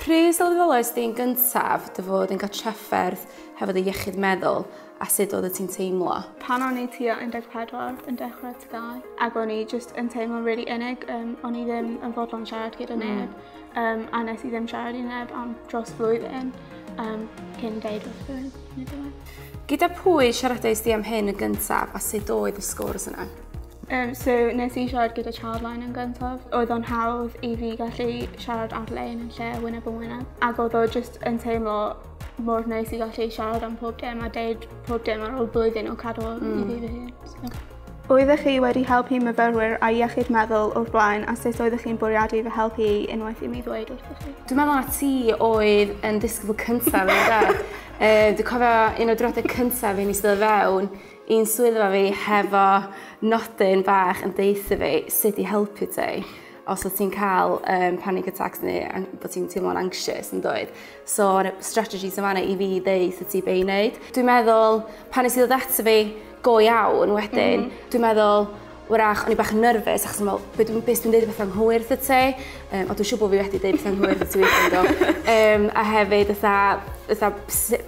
Pryd sylweddolais di'n gyntaf dy fod yn cael trafferth hefo dy iechyd meddwl a sut oedd y ti'n teimlo? Pan o'n i tua 14 yn dechrau tygau ac o'n i just yn teimlo'n really unig, um, o'n i ddim yn fodlon siarad gyda hmm. neb mm. um, a nes i ddim siarad i neb am dros flwyddyn um, cyn deud wrth rhywun. Gyda pwy siaradais di am hyn yn gyntaf a sut oedd y sgwrs yna? Um, so, nes i siarad gyda Charline yn gyntaf. Oedd o'n hawdd i fi gallu siarad ar-lein yn lle wyneb yn wyneb. Ac oedd o just yn teimlo mor neis i gallu siarad am pob dim a deud pob dim ar ôl blwyddyn o cadw mm. i fi fy hun. So. Oeddech chi wedi helpu myfyrwyr a iechyd meddwl o'r blaen a sut oeddech chi'n bwriadu fy helpu i unwaith i mi ddweud wrthych chi? Dwi'n meddwl na ti oedd yn disgybl cyntaf yn dda. Yy dwi cofio un o diwrnode cyntaf i ni iste' o fewn i'n swyddfa fi hefo nodyn bach yn deutho fi sut i helpu ti os wt ti'n ca'l yym panic attacks ne' an- bo' ti'n teimlo'n anxious yndoedd? So o' 'na strategies yn fana i fi ddeutho ti be' i neud. Dwi'n meddwl pan nes i ddod ato fi go iawn wedyn dwi'n meddwl Wrach, o'n i bach yn nerfus achos yn meddwl, be dwi'n beth dwi'n deud beth anghywir wrth y te, um, ond dwi'n siŵr bod fi wedi deud beth anghywir wrth y weithio do. Um, a hefyd, ytha, ytha,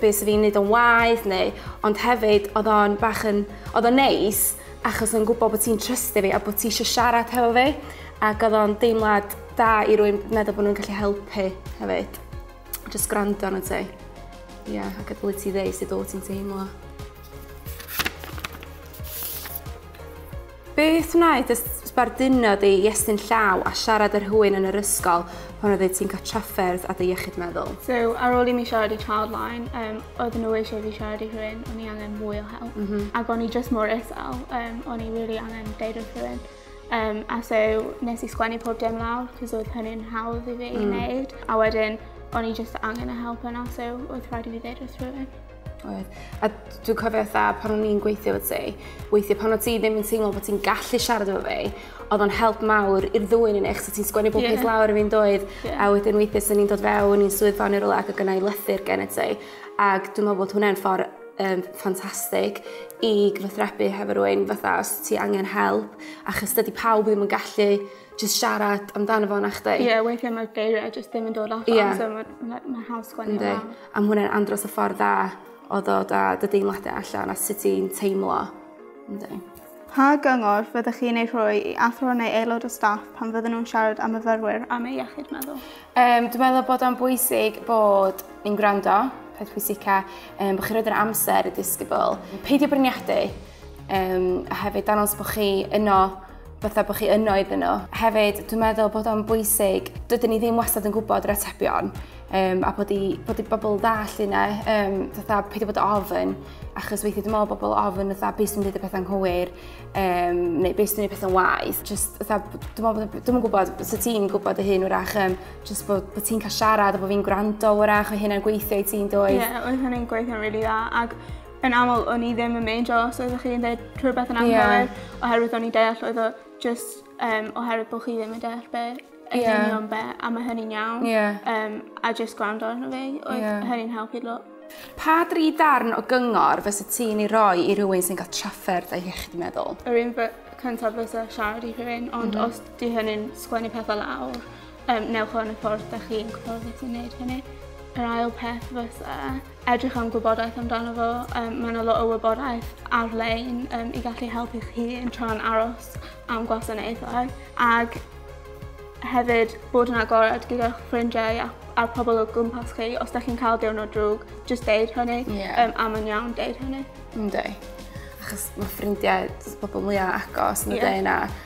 beth sy'n fi'n neud o'n waith neu, ond hefyd, oedd o'n bach yn, oedd o'n neis achos o'n gwybod bod ti'n trystu fi a bod ti eisiau siarad hefo fi, ac oedd o'n deimlad da i rwy'n meddwl bod nhw'n gallu helpu hefyd. Just gwrando arno ti. Ie, yeah, ac ydw i ti ddeis i dod ti'n teimlo. Beth wnaeth y sbarduno di i estyn llaw a siarad yr hwyn yn yr ysgol pan oedd ti'n cael trafferth a dy iechyd meddwl? So, ar ôl i mi siarad i Childline, um, oedd nhw eisiau fi siarad i rhywun, o'n i angen mwy o help. Mm -hmm. Ac o'n i just mor isel, um, o'n i really angen deud wrth rhywun. Um, a so, nes i sgwennu pob dim lawr, cos oedd hynny'n hawdd i fi mm. i wneud. A wedyn, o'n i just angen y help yna, so oedd rhaid i fi ddeud wrth rhywun. Oedd. A dwi'n cofio eitha pan o'n i'n gweithio fod ti, weithio pan o'n ti ddim yn teimlo bod ti'n gallu siarad efo fi, oedd o'n help mawr i'r ddwy yn eich, so ti'n sgwennu bob yeah. peth lawr i fi'n doedd, yeah. a wedyn weithio sy'n ni'n dod fewn i'n swyddfa neu rola ac o gynnau lythyr gen i ti. Ac dwi'n meddwl bod hwnna'n ffordd um, ffantastig i gyfathrebu hefo rwy'n fatha os ti angen help achos dydy pawb ddim yn gallu jyst siarad amdano fo nachdi? Ie weithia' ma'r geiria' jyst ddim yn dod allan... Ia. ...so ma' ma' ma'n hawdd sgwennu fe lawr. Yndi. A ma' hwnna'n andros o ffordd dda o ddod â dy deimlade allan a sut ti'n teimlo. Yndi. Pa gyngor fyddech chi'n ei rhoi i athro neu aelod o staff pan fydden nhw'n siarad â myfyrwyr am eu iechyd meddwl? Yym dwi meddwl bod o'n bwysig bod ni'n gwrando, peth pwysica yym bo' chi roid yr amser y disgybl. Peidio bwriadu. Um, a hefyd dangos bod chi yno fatha bod chi yno iddyn nhw. Hefyd, dwi'n meddwl bod o'n bwysig, dydyn ni ddim wastad yn gwybod yr atebion, um, a bod i, bod i bobl ddall yna, um, fatha peidio bod ofyn, achos weithio dwi'n meddwl bobl ofyn, fatha beth sy'n dweud y pethau'n hwyr, um, neu beth sy'n dweud y pethau'n waith. Just, fatha, dwi'n meddwl, bod, dwi'n gwybod, so ti'n gwybod y hyn wrach, um, just bod, bod ti'n cael siarad, a bod fi'n gwrando wrach, o hynna'n gweithio i ti'n dweud. Ie, yeah, oedd hynny'n gweithio'n rili really dda, ac yn aml o'n i ddim yn meindio os oeddech chi yn deud rhywbeth yn anghywir... Ie. ...oherwydd o'n i'n deall oedd o jyst yym oherwydd bo' chi ddim yn deall be'... Ie. ...yn union be' a ma' hynny'n iawn. Ie. Yym a jyst gwrando arno fi oedd... Ie. ...hynny'n helpu lot. Pa dri darn o gyngor fysa ti'n ei roi i rywun sy'n ga'l trafferth a iechyd meddwl? Yr un by- cyntaf fysa siarad i rhywun ond... M-hm. ...os 'di hynny'n sgwennu pethe lawr yym newch o yn y ffordd 'dach chi'n gwbod sut i neud hynny. Yr ail peth fysa edrych am gwybodaeth amdano fo yym ma' 'na lot o wybodaeth ar-lein yym i gallu helpu chi yn tra'n aros am gwasanaethau ag hefyd bod yn agored gyda'ch ffrindiau a a'r pobol o gwmpas chi os 'dach chi'n ca'l diwrnod drwg jyst deud hynny. Ie. Yym a ma'n iawn deud hynny. Yndi. Achos ma' ffrindiau jys pobol mwya agos yn y... Ie. ...dy 'yn a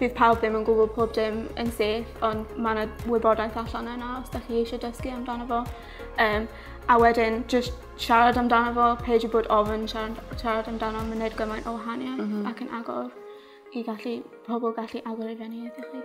Bydd pawb ddim yn gwybod pob dim yn sef, ond mae yna wybodaeth allan yna os ydych chi eisiau dysgu amdano fo. Um, a wedyn, just siarad amdano fo, peidio bod ofyn siarad, siarad amdano, mae'n gwneud gymaint o wahaniaeth mm -hmm. ac yn agor i gallu, pobl gallu agor i fyny ydych chi.